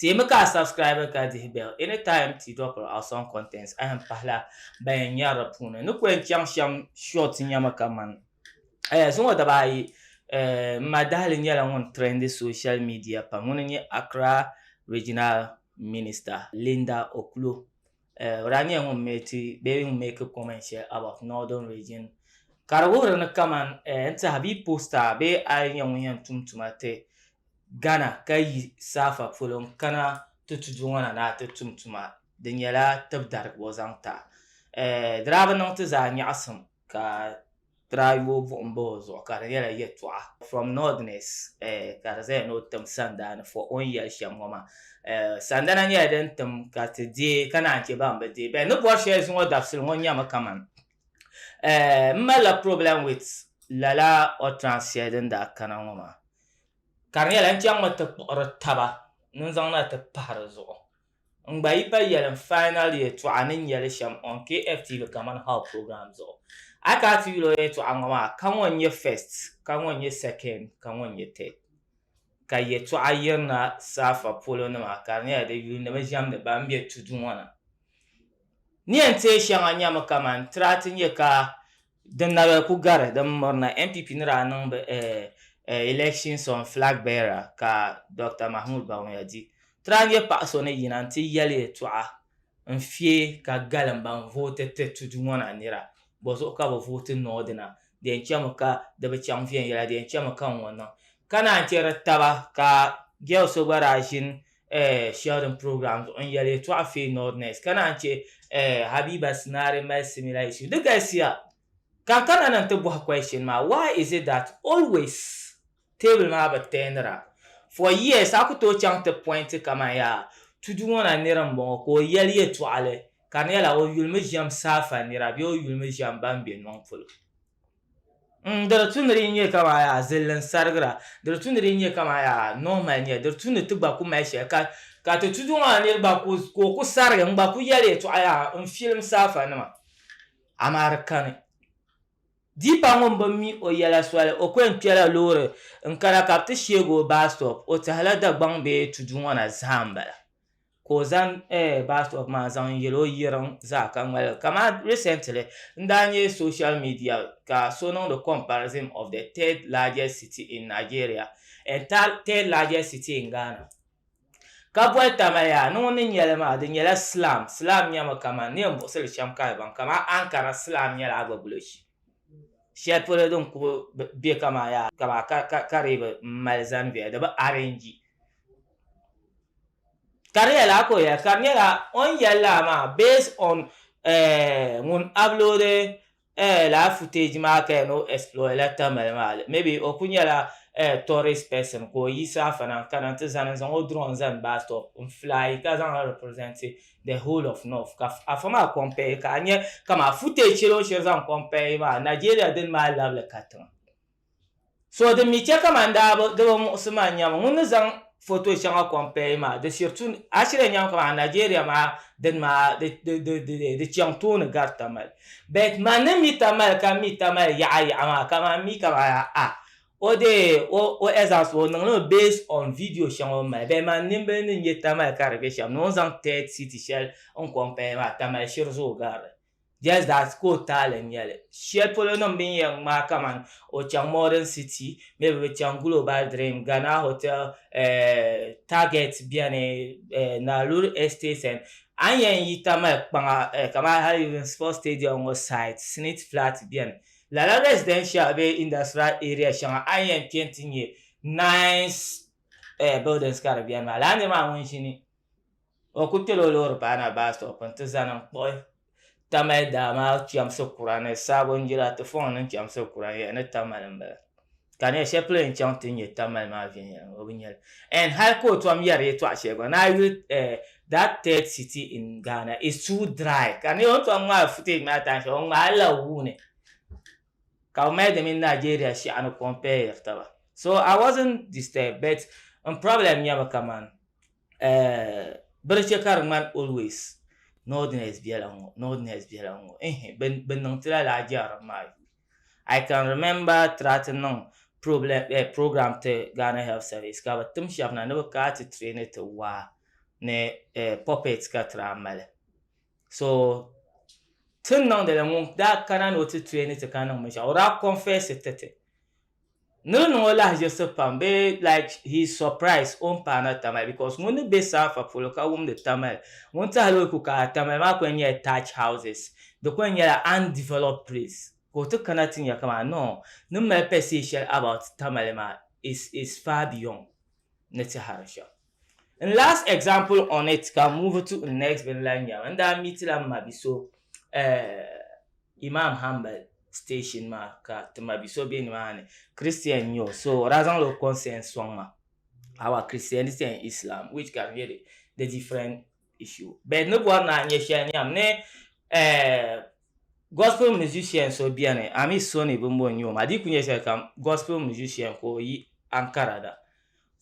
Teemi ka a subscribe ka dihi bell any time ti dropiri awesome contents ayan pahila ban yan nyari di puuni ni ku yan chaŋ shɛm short nyama kaman eh zuŋɔ daba ayi eh m ma dahili nyɛla ŋun trendi social media pam ŋuni n nyɛ Accra Regional Minister Linda Oklo Eh, o daa nyɛla ŋun meeti bee ŋun make comment shɛli about northern region ka di wuhiri ni kaman eh, n tiɛha bee posta bee a yi nyɛ ŋun yɛn tum tuma ti Ghana ka yi saafa polo n kana ti tudu ŋɔ na ni a ti tum tuma di nyɛla tibidarigibo zaŋ ti a eh, di daa bi niŋ ti zaa nyaɣisim ka Tirayu buɣim ba o zuɣu ka di nyɛla yɛtɔɣa from northerners ka di zaya ni o tim sandaani for o ni yɛli shɛm ŋɔ maa. Sandana nyɛla din tim ka ti deei ka naan chɛ ban bi deei bɛ ni bɔri shɛli zuŋɔ dabisili ŋɔ nyɛmi kaman m malila problem with lala utterance shɛli din daa kana ŋɔ maa ka di nyɛla n chaŋmi ti kpuɣiri taba ni n zaŋ na ti pahi di zuɣu. N gba yi pa yɛli n final yɛltɔɣa ni nyɛli shɛm on KFTV kamani How program zuɣu. A ka ti yuli o yɛltɔɣa ŋɔ maa ka ŋɔ n-nyɛ first, ka ŋɔ n-nyɛ second, ka ŋɔ n-nyɛ third. Ka yɛltɔɣa yirina saafa polo nima ka di nyɛla di yuli ni bɛ ʒɛmdi ban be tudu ŋɔ na. Ni yɛn teei shɛŋa nyɛmi kamani tira ti nyɛ ka Din na bɛ ku gari din miri na, NPP ni daa niŋ bɛ election song Flag Bearer ka Dr Mahmood Bawumia di. Ti daa nya paɣa so ni yina n-ti yɛli yɛltɔɣa n-fiɛ ka galim ban vooti ti tudu ŋɔ na nira bɔ zuɣu ka bɛ vooti noo di na, di yɛn chɛmi ka di bi chaŋ viɛnyɛla, di yɛn chɛmi ka n ŋɔ niŋ. Ka naan chɛ di taba ka girl so gba daa ʒini eh, sharing programs on yɛli yɛtɔɣa fee nordness ka naan chɛ eh, Habiba Sinari mali similar issue di galisiya ka ka na ni ti bɔhi question maa why is it that always table maa bi tɛɛnira for years a ku tooi chaŋ ti point kaman yaa tudu ŋɔ na niri n bɔŋɔ ka o yɛli yɛtɔɣali ka di nyɛla o yulimi ʒɛm saafa nira bee o yulimi ʒɛm ban be nɔŋ polo N, di di tu ni di nyɛ kaman yaa zilli n-sarigira, di di tu ni di nyɛ kaman yaa nɔhi mali nya, di di tu ni ti gba ku mali shɛli ka, ka ti tudu maa nir gba ku, ka o ku sarigi n-gba ku yɛli yɛtɔɣa yaa n filim saafanima, amaa di kani. Deepa ŋun bi mi o yɛla soli, o ku yɛn kpɛla loori n-kana ka bɛ ti sheeg o baastɔp, o tɛhila Dagbaŋ bee tudu ŋɔ na zaa m-bala. ka o zaŋ bastop maa zaŋ yeli o yirim zaa ka ŋmali li kaman recently n daa nya social media ka so niŋdi comparison of the third largest city in Nigeria and third largest city in Ghana ka boli taba yaa ni ŋun ni nyeli maa di nyela slam, slam nyemi kaman neen buɣisili shem ka di baŋ kaman Ankara slam nyela agbagulo shee. shɛli polo din kuli bɛ kaman yaa kaba ka di bi mali zani viɛla di bi arɛnji ka di yɛli a ka o yɛli ka di nyɛla o ni yɛli laa maa based on ŋun uploadi lala footage maa ka yɛn ni o exploit la Tamale maa maybe o kuli nyɛla tourist person ka o yiɣisi afana n-kana nti zani n-zaŋ o drone zani bus stop n-fly ka zaŋ li represent the whole of north ka afa maa compare ka anya kama footage shɛli o shɛli zaŋ compare maa Nigeria din maa labili ka tiŋa so din mi chɛ kama daa bi di bi muɣisi ma nyɛmi ŋun ni zaŋ foto shɛŋa compare maa di shiri tu a shiri nyɛmi kama Nigeria maa din maa di di di di di chɛŋ tooni gari tamali but man ni mi tamali ka mi tamali yaɣa yaɣa maa kama mi kama a O deei o o exams o niŋ li mi based on video shɛŋa o ni mali bee man nimbili ni nyɛ Tamale ka di bɛ shɛm ni o zaŋ third city shɛli n compare maa Tamale shiri zuɣu garili just that ka o taali nyɛli shɛli polo nim bini yɛn ŋmaai kamani o chaŋ modern city mi bi chaŋ global dream Ghana hotel eh, target bɛni eh, Naluri estates and a ni yɛn yi Tamale kpaŋa eh, kamani hali even sports stadium ŋɔ site snit flat bɛni Lala residential bee industrial area shɛŋa a yi yɛn kpɛ nti nyɛ nice eh, buildings ka di beni maa, lala nirimaa ŋun ʒini o ku kpɛla o loori baana bus stop nti zani n-kpuɣi Tamale daa maa chɛmsi kura ni sabon jila ti fɔŋ ni chɛmsi kura n-yɛli ni Tamale m-bala. ka ne shɛli polo yɛn chaŋ ti nyɛ Tamale maa viɛnyɛliŋga o bi nyɛli and high court tom yɛri yɛtɔɣa shɛli gba ni a yuli eh, that third city in Ghana is too dry ka ne o tom ŋmaai footage maa time shɛli o ŋmaai la wuu ni ka o mali di mini Nigeria shɛɣani compare yɛri taba so I wasn't disturbed but n problem nyɛmi kaman eh, bɛ di chɛ ka di ŋmani always northerners bela ŋɔ northerners bela ŋɔ ehe bɛ niŋ ti lala a jɛrilim maa yuli. I can remember tira ti niŋ program ti Ghana health service ka bi tim shɛba na ni bi kaa ti traini ti waa ni puppets ka tira mali so tin niŋdili ŋun daa kana ni o ti traini ti ka niŋ binshɛɣu o daa confess ti ti Ni di niŋ o lahiʒirisi pam bee like he is surprised o ni paana Tamale because ŋun ni be saafa polo ka wumdi Tamale ŋun tɛhila o ku ka a Tamale maa ku yɛn nyɛla thatch houses di ku yɛn nyɛla undeveloped place ka o ti kana ti nya kaman no ni mali pɛsihi shɛli about Tamale maa is is far beyond ni tɛhiri shɛm. N last example on it ka move to n next bin lahi nyɛba n daa miitila m ma bi so eh, Imam Hanbal station maa ka ti ma bi so be nimaani Christian n-nyɛ o so o daa zaŋla o consent sɔŋ ma our Christianity and Islam which ka di nyɛ di different issue but ni bɔri ni a nyɛ shɛli nyam ni eh, gospel musician so beni Amith Soni bimbo n-nyɛ o maa di yi kuli nyɛ shɛlikam gospel musician ka o yi Ankara na.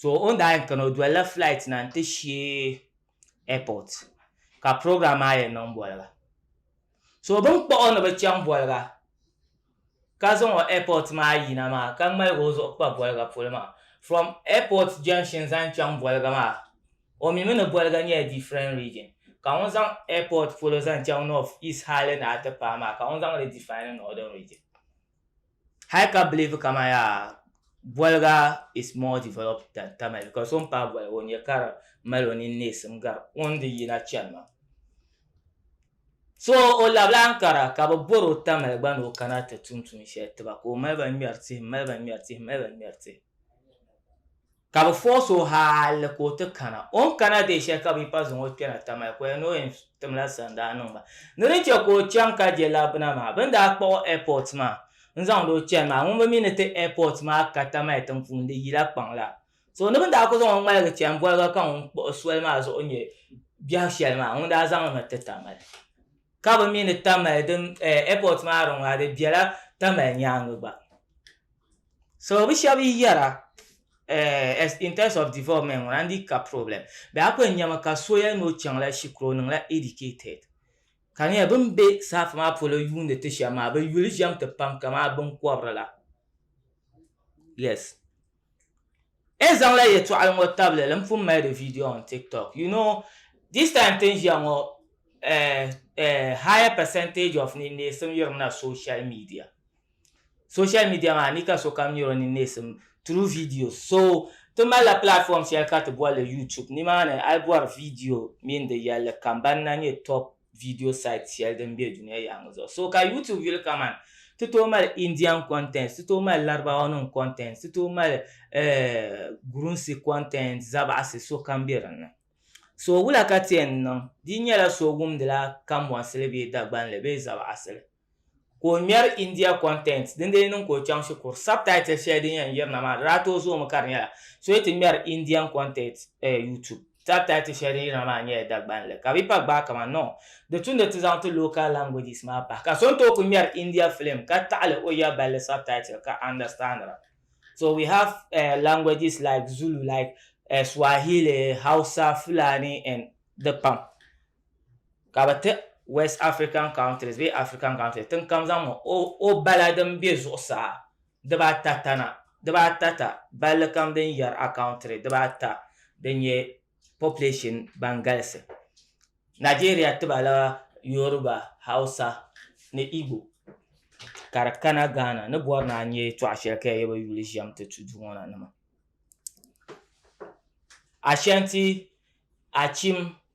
So o ni daa yɛn kani o dolila flight na n ti sheei airport ka program maa yɛn niŋ boliga. So bini kpuɣi o ni bi chaŋ boliga ka zaŋ o airport maa yina maa ka ŋmaligi o zuɣu kpa boliga polo maa. From airport junction zaŋ chaŋ boliga maa o mi mi ni boliga nyɛla different region ka ŋun zaŋ airport polo zaŋ chaŋ north, east hali ni a ti paai maa ka ŋun zaŋ li define northern region. hali ka believe kama yaa boliga is more developed than Tamil because o ni paai boliga o nya ka di mali o nini neesim gari o ni di yina chani maa so o labila Ankara ka bɛ bɔri o Tamil gba ni o kana ti tum tuun shɛli tiba ka o mali ba ŋmɛri tihi m-mali ba ŋmɛri tihi m-mali ba ŋmɛri tihi Ka bɛ fɔɔsi o hali ka o ti kana. O ni kana dee shɛli ka bɛ yi pa zaŋ o kpɛna Tamale koya ni o yɛn timla sani daa niŋ ba. Ni di chɛ ka o chaŋ ka je labbina maa, bɛ ni daa kpuɣi o airport maa n-zaŋdi o chani maa, ŋun bi mi ni ti airport maa ka Tamale tiŋ'puuni di yila kpaŋ la. So ni bɛ ni daa kuli zaŋ o ŋmaligi chani boliga ka ŋun kpuɣi soli maa zuɣu nyɛ biɛhigu shɛli maa, ŋun daa zaŋ li mi ti Tamale. Ka bɛ mi ni Tamale din airport maa di ŋɔ a di bela Tamale nyaaŋa gba. So bɛ shɛba yi yɛra eh in terms of development ŋɔ na n di ka problem bɛ a kuli nyami ka so yɛli ni o chaŋ la shikuru o niŋla educated ka di nyɛla bɛ ni be saha maa polo yuuni ti shɛm maa bɛ yuli ʒɛm ti pam kaman binkɔbiri la yes N zaŋla yɛtɔɣili ŋɔ tabili li m pun mali di video on TikTok. You know, this time ti ni ʒiya ŋɔ eh eh higher percentage of ninneesim yirimina social media. Social media maa ni ka sokam nyari o ninneesim through videos. So ti malila platform shɛli ka ti boli li YouTube. Nimaani a yi bɔri video mini di yɛlli kam ban na nyɛ top. video site shɛli din be dunia yaɣiŋ zuɣu so ka YouTube yuli kaman ti tooi mali Indian content, ti tooi mali Larabawanima content, ti tooi mali eh Gurunsi content, Zabaɣisi sokam be din ni. So wula ka ti yɛn niŋ? Di nyɛla so wumdila Kanbɔnsili bee Dagbanli bee Zabaɣisili. ka o ŋmɛri India content din dee niŋ ka o chaŋ shikuru subtitle shɛli din yɛn yirina maa di daa tooi zoomi ka di nyɛla so yi ti ŋmɛri Indian content eh, YouTube subtitle shɛli din yirina maa nyɛla Dagbanli ka bi pa gbaai kaman no di tumdi ti zaŋ ti local languages maa pahi ka so ni tooi ku ŋmɛri India film ka taɣili o ya balli subtitle ka understandira so we have eh, languages like Zulu like eh, Swahili Hausa Fulani and di pam. ka bi ti west african countries bee african countries tin kam zaŋ o, o bala din be zuɣusaa dibaata tana dibaata ta balli kam din yɛri a country dibaata din nyɛ population ban galisi nigeria tibala yoruba hausa ni igbo ka di kana ghana ni bɔri ni a nyɛ tɔɣa shɛli ka di yɛ bi yuli ʒɛm ti tu duu ŋɔ na nima ashanti achim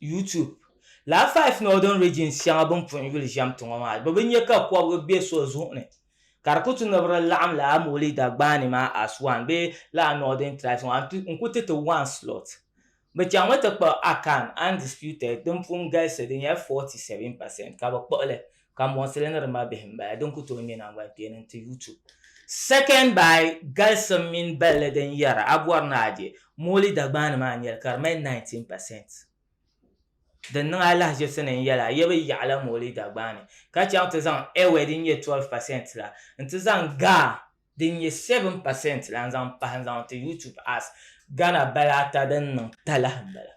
YouTube. Lala five northern regions shɛŋa bini puhi yuli ʒɛm tiŋɔ maa bɛ bi nya ka kɔbiga be so zuɣu ni ka di ku ti ni bɛ di laɣim lala Mowley Dagbaani maa as one bee lala northern tribes maa n-ku ti ti one slot. Bɛ chaŋmi ti kpuɣi Akan, Undisputed, din pun galisi di nyɛla forty seven percent ka bɛ kpuɣi li. ka mɔɣisili ni di ma bihi m-bala din ku tooi ŋme naŋgbankpeeni nti yu tu. Second by galisim mini balli din yɛra a bɔri ni a je mooli Dagbaŋ ni maa n-nyɛli ka di mali 19 percent. Din niŋ alahichisi ni n-yɛli a ye bi yaɣila mooli Dagbaŋ ni ka chaŋ ti zaŋ Ewe din nyɛ 12 percent la nti zaŋ ga din nyɛ 7 pa sɛnt la n-zaŋ pahi n-zaŋ ti YouTube Arts Ghana bala ata din niŋ talahi m-bala.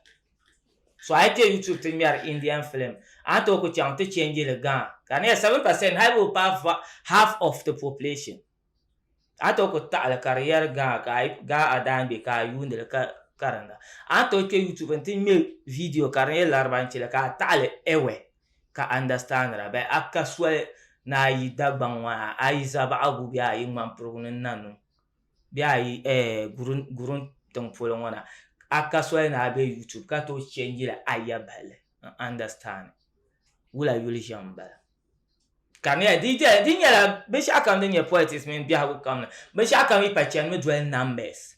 So a yi kpe YouTube ti ŋmɛri Indian film, a ni tooi ku chaŋ ti change li Ghana ka di nyɛla 7 pa sɛnt hali bi bi paai half of the population. A ni tooi ku taɣi li ka di yɛri Ghana ka gaa a daangbe ka a yuundi li ka karinda. A ni tooi kpe YouTube n-ti ŋme video ka di nyɛ Laribanchi la ka a taɣi li Ewe ka understandira bɛ a ka soli ni a yi Dagbaŋ ŋɔ ha a yi Zabaɣigu bɛ a yi Ŋmanpirigu ni Nanum bɛ a yi eh Guruŋ tiŋ polo ŋɔ na a ka soli ni a be YouTube ka tooi change li a ya bahi li n understand wula yuli ʒiɛm m-bala ka mi a di dɛli di nyɛla binshɛɣukam din nyɛ politics mini biɛhigu kam la binshɛɣukam yi pa chanimi doli numbers.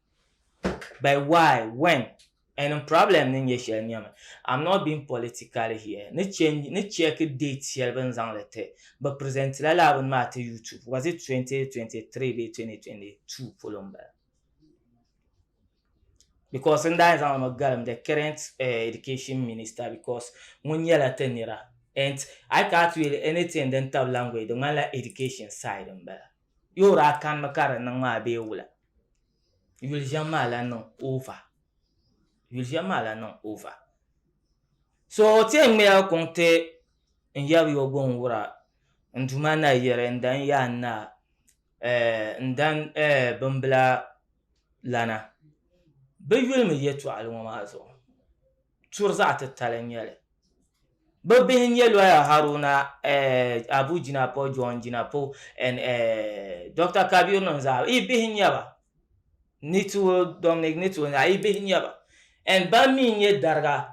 By why, when, and in problem ni nyɛ shɛli nyɛmi. I'm not being political here. Ni chɛ ni check date shɛli bɛ ni zaŋ li ti, bɛ present la lala bini maa ti YouTube, was it 2023 bee 2022 polo m-bala? Because n daa yɛn zaŋ li mi galim the current Education Minister because ŋun nyɛla ti nira and I can't really anything din tabi language di ŋmanila Education side m-bala. Yo daa kanimi ka di niŋ maa bee wula? Yuli ʒiɛm maa lahi niŋ over. Yuli ʒiɛm maa lahi niŋ over. So ti yɛn ŋmɛya kuŋ ti n yab yo gɔŋ wura n Duuma na yiri n dan yaa n naa eh, n dan eh bimbila lana. Bɛ yuli mi yɛtɔɣili ŋɔ maa zuɣu. Turi zaɣ titali n nyɛli. Bɛ bihi n-nyɛ lɔya Haruna eh, Abu Jinapor, John Jinapor and eh, Dɔkta Kabir nim zaa yi bihi n-nyɛ ba. Nitsuo, Dominic Nitsuo zaa yi bihi n-nyɛ ba. And ban mi n-nyɛ dariga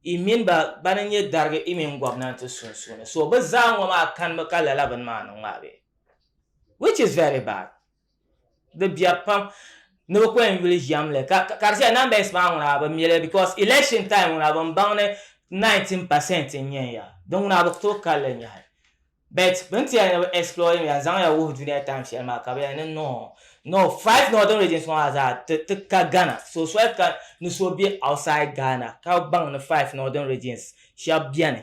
i mini ba bana n-nyɛ darigi i mini gɔbnanti sunsuuni. So bɛ zaa ŋɔ maa kanimi ka lala bini maa niŋ maa bee? Which is very bad. di bia pam ni bi ko yuli ʒiɛm li ka ka di shɛli numbers maa ŋuna bi mili because election time ŋuna bin baŋ ni 19 percent n nyɛ ya di ŋuna bi tooi kalli nyahi bet bin tiya ni bi explore ya n zaŋ ya wuhi dunia time shɛli maa ka bi yɛli ni no no five northern regions ŋɔ maa zaa ti ti ka Ghana so soli ka ni so bɛ outside Ghana ka baŋ ni five northern regions shɛba bɛni.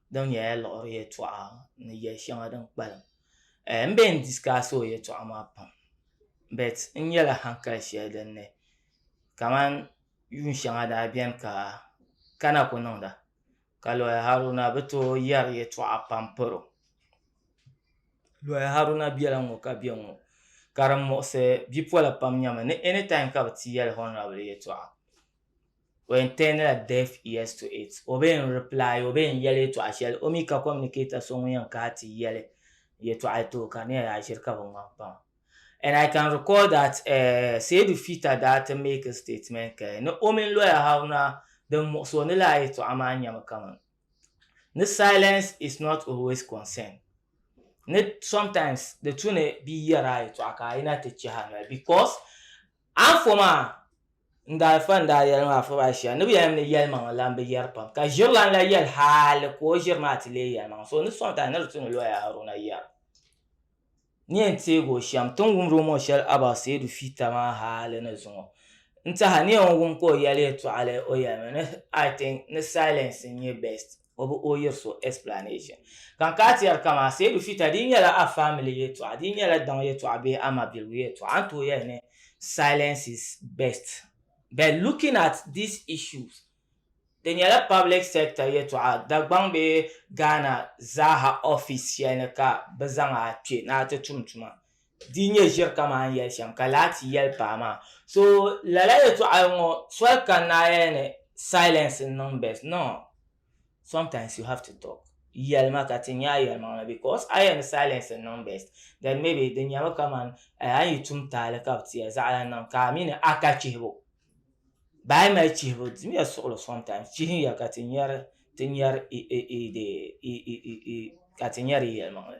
din nyɛla liɣiri yɛltɔɣa ni yɛli shɛŋa din kpalim eh, n bɛ n disikaasi o yɛltɔɣa maa pam bet n nyɛla hankali shɛli din ni kamani yuun shɛŋa daa biɛni ka kana ku niŋda ka lɔya haruna bi tooi yɛri yɛltɔɣa pam paro lɔya haruna biɛla ŋɔ ka bɛ ŋɔ ka din muɣisi bipola pam nyɛmi ni anytime ka bi ti yɛli honorable yɛltɔɣa When Tenela deaf ears to it, o be yɛn reply, o be yɛn yɛli yɛtɔɣa shɛli, o mi ka communicator so ŋun yɛn kahi ti yɛli yɛtɔɣa ti o ka di nyɛla yaa ʒiri ka bi ŋmani kpaŋa. And I can recall that eh, Seydou Fita daa ti make a statement ka ni o mini lawyer Haruna din muɣisi o ni laa yɛtɔɣa maa nyɛmi kaman ni silence is not always consent ni sometimes di tu ni bɛ yi yɛri a yɛtɔɣa ka a yina ti chɛhi a noli because Anfooma, Ndalifa n daa yɛlim Afɔr Asia ni bɛ yɛlim ni yɛlimaŋli la m-bi yɛri pam, ka ʒirilan la yɛli hali ka o ʒiri maa ti leei yɛlimaŋli, so ni sɔŋ ti a ni di tu ni lɔya Haruna yɛra ni yɛn teeg o shɛm. Ti ni wumd o mɔ shɛli Abaa Seidu Fiita maa hali ni zuŋɔ n-tɛha ni yɛn wum ka o yɛli yɛtɔɣili o yɛlimi ni I think ni silence n-nyɛ best. o bi o yiri so explanation. Ka n kaa tiyari kamaa Seidu Fita di nyɛla a family yɛltɔɣa di nyɛla daŋ yɛltɔɣa bee a mabiligu yɛltɔɣa n tooi yɛli ni silence is best but looking at these issues di nyɛla public sector yɛltɔɣa Dagbaŋ bee Ghana zaaha office shɛli ni ka bɛ zaŋ a kpe ni a ti tum tuma. di nyɛ ʒiri kamani yɛli shɛm ka laati yɛli paɣa maa so lala yɛtɔɣa ŋɔ soli ka naaya ni silence n niŋ best no sometimes you have to talk yɛlima ka ti nya yɛlimaŋli because a yɛn ni silence n niŋ best then maybe di nyɛmi kamani eh, a yi tum taali ka bi ti ya zaɣala niŋ ka a mi ni a ka chihibu baa yi mali chihibu dimiya suɣulo sometimes chihin ya ka ti nyɛri ti nyɛri i i i de i i i i ka ti nyɛri yɛlimaŋli